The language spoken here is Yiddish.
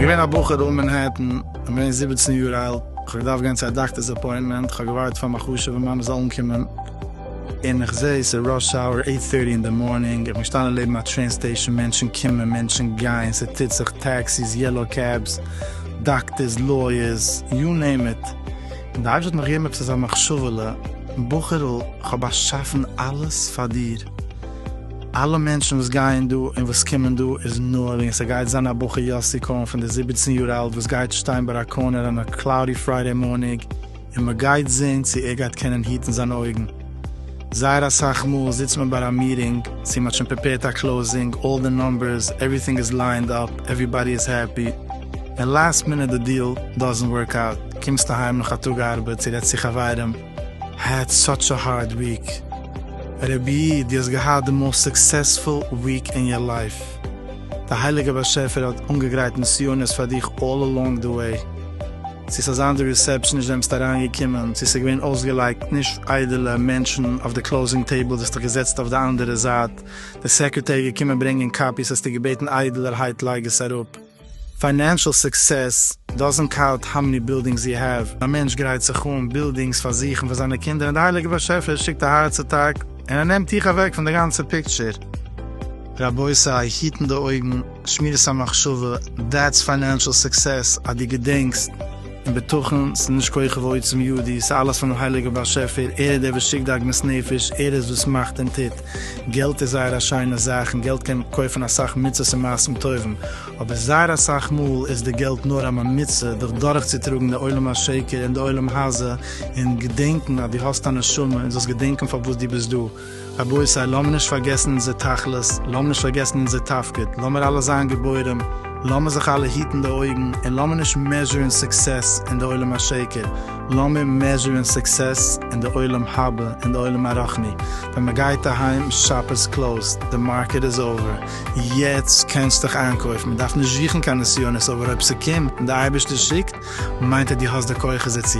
געווען א בחור דא אין מענהעטן, איך בין געווען זיבעצן יאר אלט, איך האב געדארפט גיין צו א דאקטער'ס אפוינטמענט, איך האב געווארט פאר מיין חשוב'ע מאמע זאל אנקומען, און איך זע עס איז ראש האוער עיט טערטי אין די מארנינג איך בין געשטאנען לעבן א טרעין סטעישאן מענטשן קומען מענטשן גייען ס'טוט זיך טעקסיס יעלאו קעבס דאקטערס לויערס יו נעים איט און די אייבערשטער האט מיך געגעבן עפעס אזא מחשבה'לע בחור'ל איך האב באשאפן אלעס פאר דיר אלע מענטשן וואס גייען דא און וואס קומען דא איז נאר וועגן ס'גייט זיין א בחור יאסי כהן פון די זיבעצן יאר אלט וואס גייט שטיין ביי א קארנער אן א קלאודי פריידעי מארניג און מען גייט זעהן צו ער גייט קענען היטן זיינע אויגן. זייער אסאך מאל זיצט מען ביי א מיטינג, צו מ'האט שוין פריפעירט א קלאוזינג, אלל די נומבערס, עווריטינג איז ליינד אפ, עווריבאדי איז העפי, און לאסט מינוט די דיעל דאזענט ווארק אוט, קומסט אהיים נאך א טאג ארבעט צו רעדסט צו חברים, העד סאטש א הארד וויק. רבי'י, דו האסט געהאט די מאוסט סוקסעספול וויק אין יור לייף. די הייליגער באשעפער האט אנגעגרייט נסיונות פאר דיך אלל אלאנג די וועי. צו ס'איז אזאנס די ריסעפשן נישט וועמסט אריין געקומען, צו ס'איז געווען אויסגעלייגט נישט איידעלע מענטשן אויף די קלאוזינג טעיבל האסטו דיך געזעצט אויף די אנדערע זייט, די סעקרעטערי איז געקומען ברענגען קאפיס האסטו געבעטן איידעלערהייט לייג עס אראפ. פיינענשעל סוקסעס דאזענט קאוט האו מעני בילדינגס יו העוו. א מענטש גרייט זיך אן בילדינגס פאר זיך און פאר זיינע קינדער און די הייליגע באשעפער שיקט א הארץ אטאק און ער נעמט דיך אוועק פון די גאנצע פיקטשער. רבותי היטן די אויגן. שמירת המחשבה, דעטס פיינענשעל סוקסעס אז דו געדענקסט, און בטחון, ס'איז נישט כח ועוצם ידי, ס'איז אלעס פונעם הייליגער באשעפער, ער איז דער וואס שיקט די עגמת נפש, ער איז וואס מאכט און טוט, געלט איז זייער א שיינע זאך און געלט קען קויפן אסאך מצות און מעשים טובים, אבער זייער אסאך מאל איז די געלט נאר א ממוצע דיך דורכצוטראגן די עולם השקר און די עולם הזה, און געדענקן אז דו האסט א נשמה און זאלסט געדענקן פארוואס דו ביסט דא. רבותי לאמיר נישט פארגעסן אונזער תכלית, לאמיר נישט פארגעסן אונזער תפקיד, לאמיר אלע זיין גיבורים, לאמיר זיך אלע היטן די אויגן, און לאמיר נישט מעזשורן סוקסעס אין די עולם השקר, לאמיר מעזשורן סוקסעס אין די עולם הבא, אין די עולם הרחני, ווען מען גייט אהיים, שאפ איז קלאוזד, די מארקעט איז אווער, יעצט קענסטיך איינקויפן, מען דארף נישט זוכן קיין נסיונות, אבער אויב ס'קומט און די אייבערשטער שיקט, מיינט אז דו האסט די כוחות דערצו.